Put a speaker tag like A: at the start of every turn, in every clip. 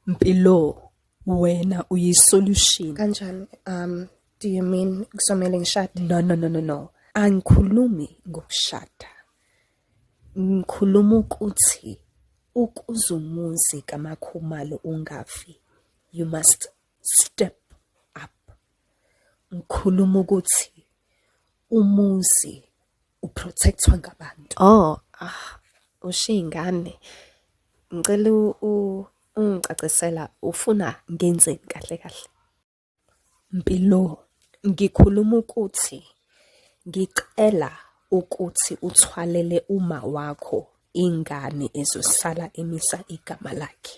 A: Mpilo wena uyi solution. Kanjani? Um
B: do you mean kusomele ngishade? No no no no no.
A: Angikhulumi ngokushada. Ngikhuluma ukuthi ukuzumuzi kamakhumalo ungafi. You must step up. Ngikhuluma ukuthi umuzi uprotectwa ngabantu oh ah ushiya
B: ingane ngicela ungicacisela ufuna ngenzeni kahle kahle mpilo
A: ngikhuluma ukuthi ngicela ukuthi uthwalele uma wakho ingane ezosala emisa igama lakhe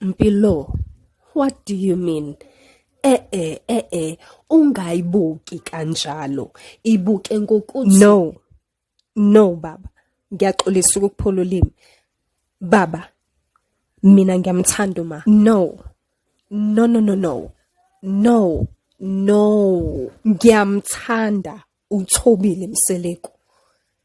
A: Mpilo, what do you mean? Eh eh eh eh ungayibuki kanjalo. Ibuke ngokuthi No. No baba. Ngiyaxolisa ukuphula ulimi. Baba. Mina ngiyamthanda uma. No. No no no no. No. No. Ngiyamthanda uthobile mseleku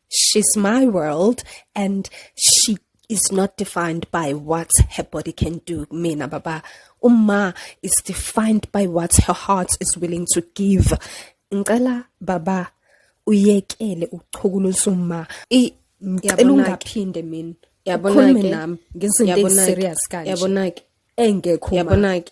A: she's my world and she is not defined by what her body can do mina baba uma is defined by what her heart is willing to give ngicela baba uyekele ukuchukulisa uma ngicela ungaphinde mina yabona ke ngezinto eziserious kanje yabona ke engekho yabona ke